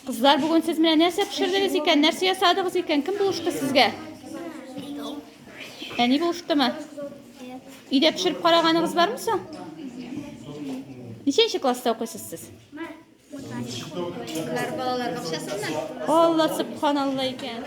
Кызлар, бүген сез менә нәрсә пешердегез икән? Нәрсә ясадыгыз икән? Кем булышты сезгә? Әни булыштымы? Өйдә пешереп караганыгыз бармы соң? Ничәнче класста укыйсыз сез? Кызлар балалар бакчасында. Алла субханалла икән.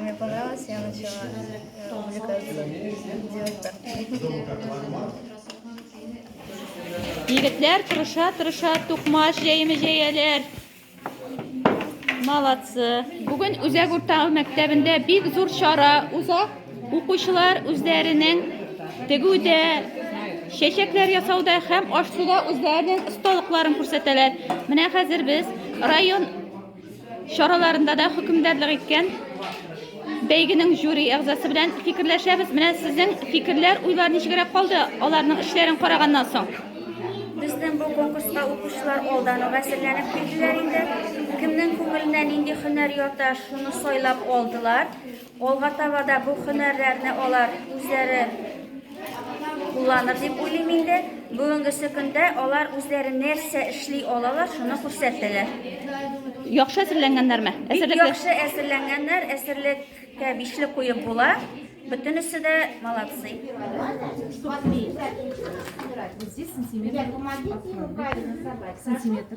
Мне понравилось, я начала э, увлекаться девушкой. Егетләр тырыша, тырыша, тукмаш җәеме җәяләр. Молодцы. Бүген Үзәк урта мәктәбендә бик зур чара уза. Укучылар үзләренең тегүдә, чәчәкләр ясауда һәм аш-суда үзләренең осталыкларын күрсәтәләр. Менә хәзер без район чараларында да хөкемдарлык иткән бәйгенең жюри әгъзасы белән фикерләшәбез. Менә сезнең фикерләр, уйлар ничегрәк калды аларның эшләрен караганнан соң? Безнең бу конкурска укучылар алдан ук әзерләнеп килделәр инде. Кемнең күңеленә нинди һөнәр ята, шуны сайлап алдылар. Алга таба да бу һөнәрләрне алар үзләре кулланыр дип уйлыйм инде. Бүгенгесе көндә алар үзләре нәрсә эшли алалар, шуны күрсәтәләр. Яхшы әзерләнгәннәрме? Бик яхшы әзерләнгәннәр, әзерлеккә бишле куеп була. Бөтенесе дә молодцы. Сантиметр.